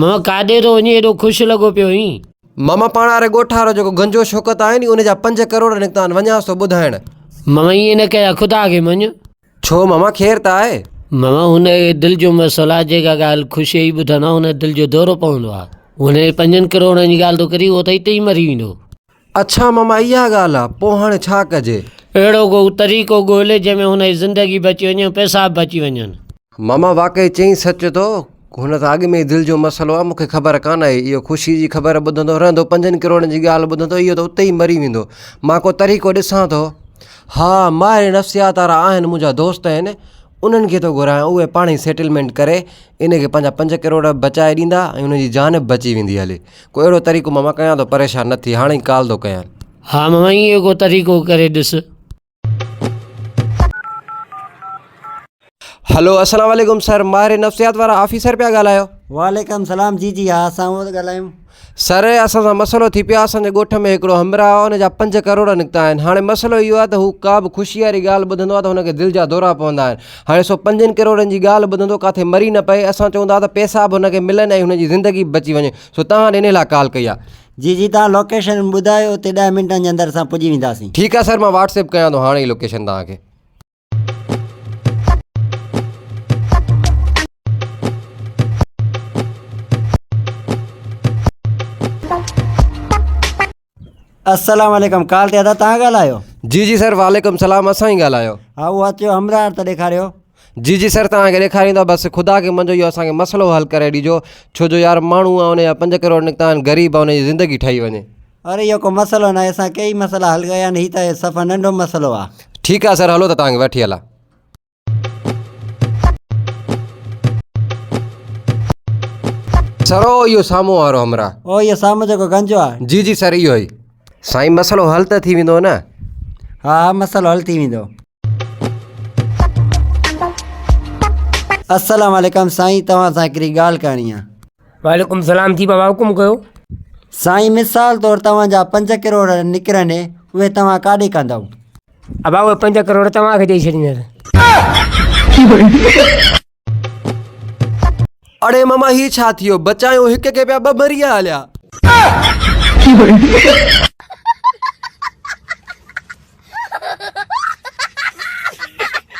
ماما ڪاڏي ٿو وڃين ايڏو خوش لڳو پيو هين. ماما پاڻ واري ڳوٺ وارو جيڪو گنجو شوڪت آهي ني ان جا پنج ڪروڙ نڪتا آهن وڃانس ٿو ٻڌائڻ. ماما ائين نه ڪجان خدا کي مڃ. ڇو ماما خير ته آهي. ماما هن کي دل جو مسئلو آهي جيڪا ڳالهه خوشي ئي ٻڌندو آهي ان کي دل جو دورو پوندو آهي هن جي پنجن ڪروڙن جي ڳالهه ٿو ڪرين اهو ته اتي ئي مري ويندو. اڇا مما اها ڳالهه آ، پوء هاڻي ڇا ڪجي؟ اهڙو ڪو طريقو ڳولهه جنهن ۾ هن جي زندگي به اچي وڃي ۽ پئسا به بچي وڃن. مما واقعي چئين سچ ٿو، هن سان اڳ ۾ ئي دل جو مسئلو آ، مون کي خبر ڪانه آهي، اهو خوشي جي خبر ٻڌندو رهندو، پنجن ڪروڙن جي ڳالهه ٻڌندو، اهو ته اتي ئي مري ويندو، مان ڪو طريقو ڏسان ٿو. ها، ماهر نفسيات وارا آهن، منهنجا دوست آهن، انهن کي ٿو گهرايان، اهي پاڻهي سيٽلمينٽ ڪري ان کي پنهنجا پنج ڪروڙ به بچائي ڏيندا ۽ هن جي جان به بچي ويندي هلي. ڪو اهڙو طريقو ماما ڪيان ٿو پريشان نه ٿي هاڻي ئي ڪال ٿو ڪيان. ها ماما ايئن ئي ڪو طريقو ڪري ڏس. هلو السلام عليڪم سر ماهر نفسيات وارا آفيسر پيا ڳالهايو. وعليڪم سلام جي جي ها اسان اهو ٿا ڳالهايون. سر اسان سان مسئلو ٿي پيو آهي اسان جي ڳوٺ ۾ هڪڙو همراهه آهي ان جا پنج ڪروڙ نڪتا آهن هاڻي مسئلو اهو آهي ته هو ڪابه خوشي واري ڳالهه ٻڌندو آهي ته هن کي دل جا دورا پوندا آهن هاڻي سو پنجن ڪروڙن جي ڳالهه ٻڌندو ڪاٿي مري نه پئي اسان چئون ٿا ته پيسا به هن کي ملن ۽ هن جي زندگي به بچي وڃي سو توهان ڏي انهي لاء ڪال ڪئي آهي. جي جي توهان لوڪيشن ٻڌايو اتي ڏهه منٽن جي اندر اسان پڄي وينداسين. ٺيڪ آهي سر مان واٽس ايپ ڪيان ٿو هاڻي ئي لوڪيشن توهان کي. السلام عليڪم ڪال تي ادا تان ڳالهايو جي جي سر وعليڪم السلام اسان ئي ڳالهايو ها اهو اچيو همراهه ته ڏيکاريو جي جي سر تان کي ڏيکاريندا بس خدا کي منجو اهو اسان کي مسئلو حل ڪري ڏيجو ڇو جو يار ماڻهو ان جا پنج ڪروڙ نڪتا آهن غريب ان جي زندگي ٺهي وڃي اري اهو ڪو مسئلو ناهي اسان ڪيئي مسئلا حل ڪيا آهن هي ته صفا ننڍو مسئلو آهي ٺيڪ آهي سر هلو ته تان کي وٺي هلان سر او اهو سامهون وارو همراهه او اهو سامهون جيڪو گنجو آ جي جي سر اهو ئي سائين مسئلو حل ته ٿي ويندو نه ها ها مسئلو حل ٿي ويندو السلام عليڪم سائين توهان سان هڪڙي ڳالهه ڪرڻي آ وعليڪم سلام جي بابا حڪم ڪيو. سائين مثال طور توهان جا پنج ڪروڙ نڪرن اهي توهان ڪاڏي ڪندؤ. ابا اهي پنج ڪروڙ توهان کي ڏئي ڇڏيندس. اڙي ماما هي ڇا ٿيو بچايو هڪ کي پيا ٻه مري هليا.